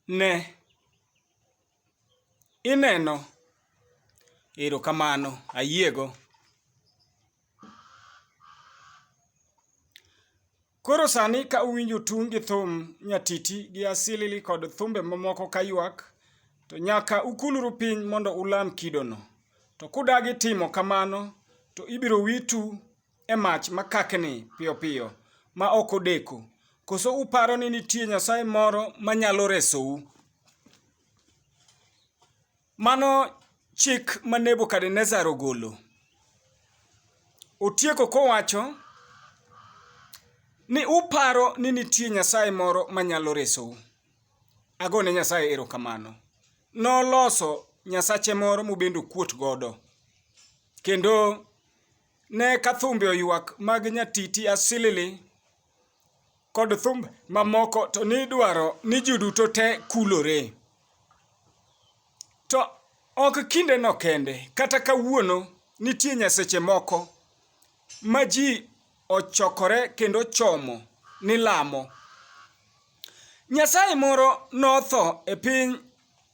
Ne, ineno. Erokamano, ayiego. Koro sani ka uwinjo tung' gi thum nyatiti gi asilili kod thumbe mamoko kaywak, to nyaka ukulru piny mondo ulam kidono. To kudagi timo kamano, to ibiro witu e mach ma kakni piyo piyo ma ok odeko? Koso uparo ni nitie nyasaye moro ma nyalo resou? Mano chik ma Nebukadnezar ogolo. Otieko kowacho ni uparo ni nitie nyasaye moro ma nyalo resou. Ago ne Nyasaye erokamano. Noloso nyasache moro mobende okuot godo. Kendo Ne ka thumbe oywak mag nyatiti asilili kod thumb mamoko to nidwaro ni ji duto te kulore. To ok kindeno kende, kata kawuono nitie nyaseche moko ma ji ochokore kendo chomo ni lamo. Nyasaye moro notho e piny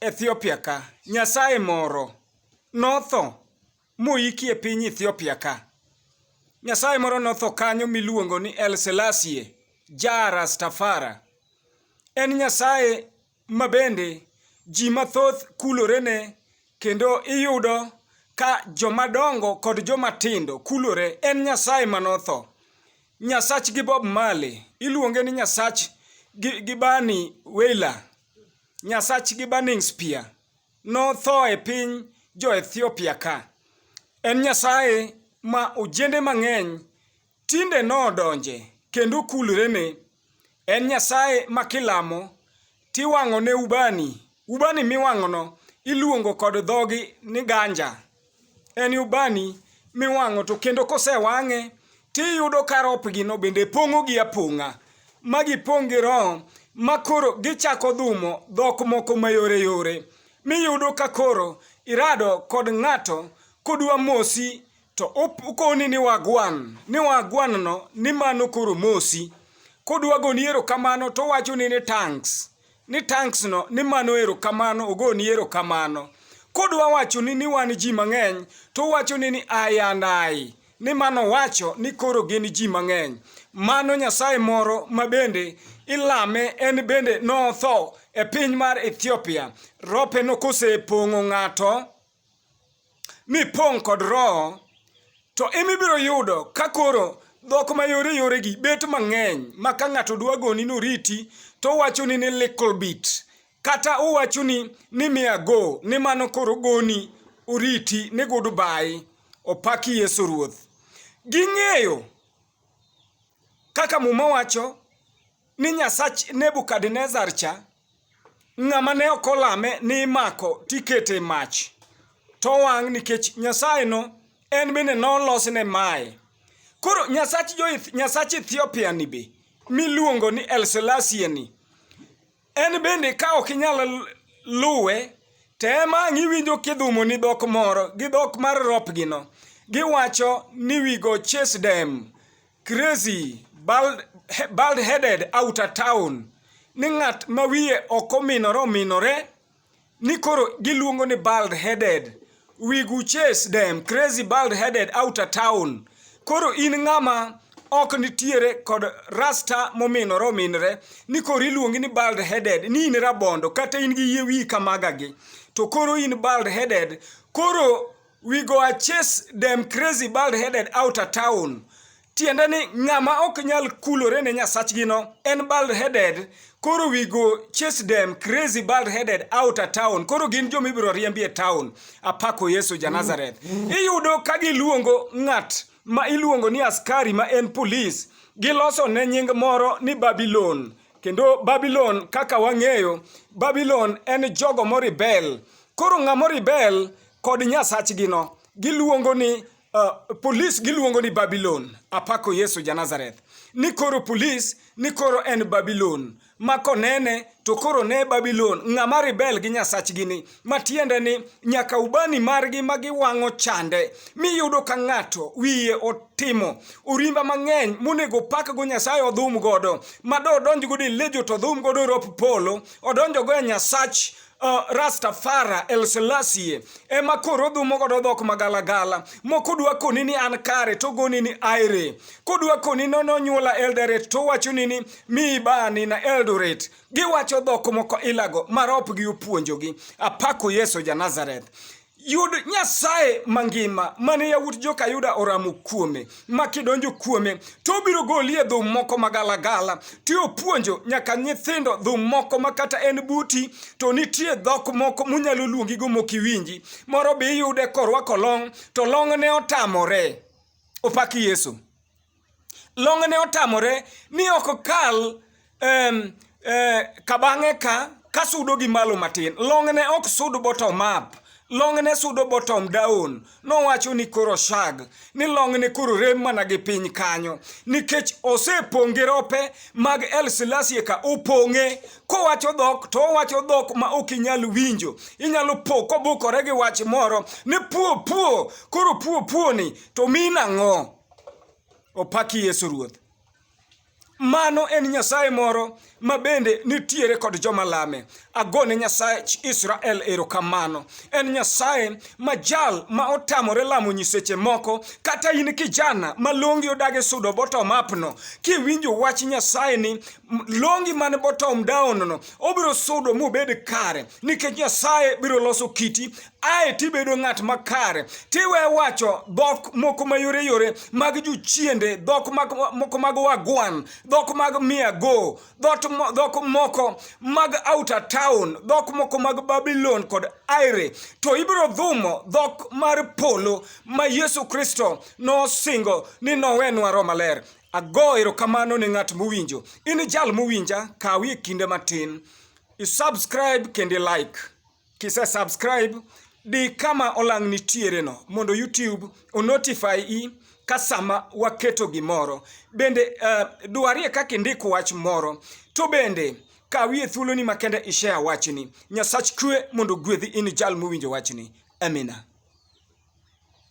Ethiopia ka, nyasaye moro notho. moiki e piny Ethiopia ka. Nyasaye moro notho kanyo miluongo ni El Selassie Jah Rastafara. En Nyasaye ma bende ji mathoth kulorene kendo iyudo ka jomadongo kod jomatindo kulore. En Nyasaye manotho. Nyasach gi Bob Marley iluonge ni Nyasach gi, gi Bani Wailer, Nyasach gi Burning Spear. notho e piny jo-Ethiopia ka. En Nyasaye ma ojende mang'eny tinde nodonje kendo kulrene. En Nyasaye ma kilamo tiwang'one ubani. Ubani miwang'ono iluongo kod dhogi ni ganja. en ubani miwang'o to kendo kosewang'e tiyudo ka ropgino bende pong'o gi apong'a ma gipong' gi roho ma koro gichako dhumo dhok moko mayore yore miyudo ka koro irado kod ng'ato kodwa mosi to ukoni ni wagwan ni wagwanno ni mano koro mosi kodwa goni erokamano towachoni ni tanks ni tanks no ni mano erokamano ogoni erokamano kodwa wachoni ni wan ji mang'eny to wachoni ni ai and ai ni mano wacho ni koro gin ji mang'eny mano nyasaye moro ma bende ilame en bende notho e piny mar ethiopia rope nokosepong'o ng'ato mipong' kod Roho, to emibiro yudo ka koro dhok mayore yoregi bet mang'eny ma ka ng'ato dwa goni noriti to owachoni ni little bit kata owachoni ni mia go ni mano koro goni oriti ni goodbye opaki Yesu Ruoth. Ging'eyo Kaka Muma wacho ni Nyasach Nebukadnezar cha, ng'ama ne ok olame ni imako tikete mach, to wang' nikech Nyasayeno en bende nolosne maye. Koro Nyasach Ethiopia ni be miluongo ni El Selassie ni, En bende ka ok inyal luwe, tem ang' iwinjo kidhumo ni dhok moro gi dhok mar ropgino. Giwacho ni we go chase them, crazy, bald, he- bald-headed outer town, ni ng'at ma wiye ok ominore ominore ni koro giluongo ni bald headed wig u chase dem crazy bald headed out of town koro in ng'ama ok nitiere kod rasta mominore ominre ni koro iluongi ni bald headed ni in rabondo kata in gi yie wiyi kamagagi to koro in bald headed koro we go a chase dem crazy bald headed out of town tiende ni ng'ama ok nyal kulore ne nyasachgino en bald headed koro we go chase them crazy bald headed out a town koro gin joma ibiro riembi e town apako yesu ja nazareth iyudo ka giluongo ng'at ma iluongo ni askari ma en polis giloso ne nying moro ni babilon kendo babilon kaka wang'eyo babilon en jogo moribel koro ng'ama oribel kod nyasachgino giluongo ni Uh, polis giluongo ni Babilon, apako Yesu ja Nazareth. Ni koro polis, ni koro en Babilon. Ma konene, to koro ne Babilon, ng'ama ribel gi nyasachgi ni, matiende ni nyaka ubani margi ma giwang'o chande, miyudo ka ng'ato wiye otimo urimba mang'eny monego pak go Nyasaye odhum godo, ma do odonj godo e lejo to odhum godo rop polo, odonjo go e nyasach uh, Rastafara El Selassie ema koro dhumo godo dhok magalagala moko dwa koni ni an kare to goni ni aire kodwa koni no nonyuola Eldoret to wacho ni ni mi bani na Eldoret giwacho dhok moko ilago marop gi opuonjogi apako Yesu ja Nazareth Yud Nyasaye mangima mane yawuot joka Yuda oramo kuome, ma kidonjo kuome to obiro goli e dhum moko magalagala, to opuonjo nyaka nyithindo dhum moko ma kata en buti to nitie dhok moko munyalo luongigo mok iwinji. Moro be iyude korwako long' to long'ne otamore. Opak Yesu. Long'ne otamore ni ok okal em, eh, kabang'e ka kasudo gi malo matin. Long'ne ok sud bottom up. Long'ne sudo bottom down. Nowacho ni koro shag ni long'ne koro rem mana gi piny kanyo nikech osepong' gi rope mag El Silasie ka opong'e kowacho dhok to owacho dhok ma ok inyal winjo. Inyalo po kobukore gi wach moro ni puo puo koro puo puo ni to mi nang'o? Opaki Yesu Ruoth. Mano en Nyasaye moro ma bende nitiere kod joma lame. Agone Nyasaye Israel erokamano. En Nyasaye ma jal ma otamore lamo nyiseche moko. Kata in kijana ma longi odage sudo botom apno, kiwinjo wach Nyasaye ni longi man botom down no, obiro sudo mobed kare. Nikech Nyasaye biro loso kiti, ae tibedo ng'at makare tiwe wacho dhok moko mayoreyore mag jochiende dhok moko mag wagwan dhok mag miago dhok moko mag outer town dhok moko mag babylon kod aire to ibiro dhumo dhok mar polo ma yesu kristo nosingo ni nowenwa ro maler ago erokamano ne ng'at mowinjo in jal mowinja kawie kinde matin isubscribe kendo like Kise subscribe, di kama olang' nitiere no mondo YouTube o notify i ka sama waketo gimoro. Bende uh, dwarie kaka indik wach moro. To bende kawie thuoloni makende ishare wachni. Nyasach kwe mondo gwedhi in jal mowinjo wachni. Amina.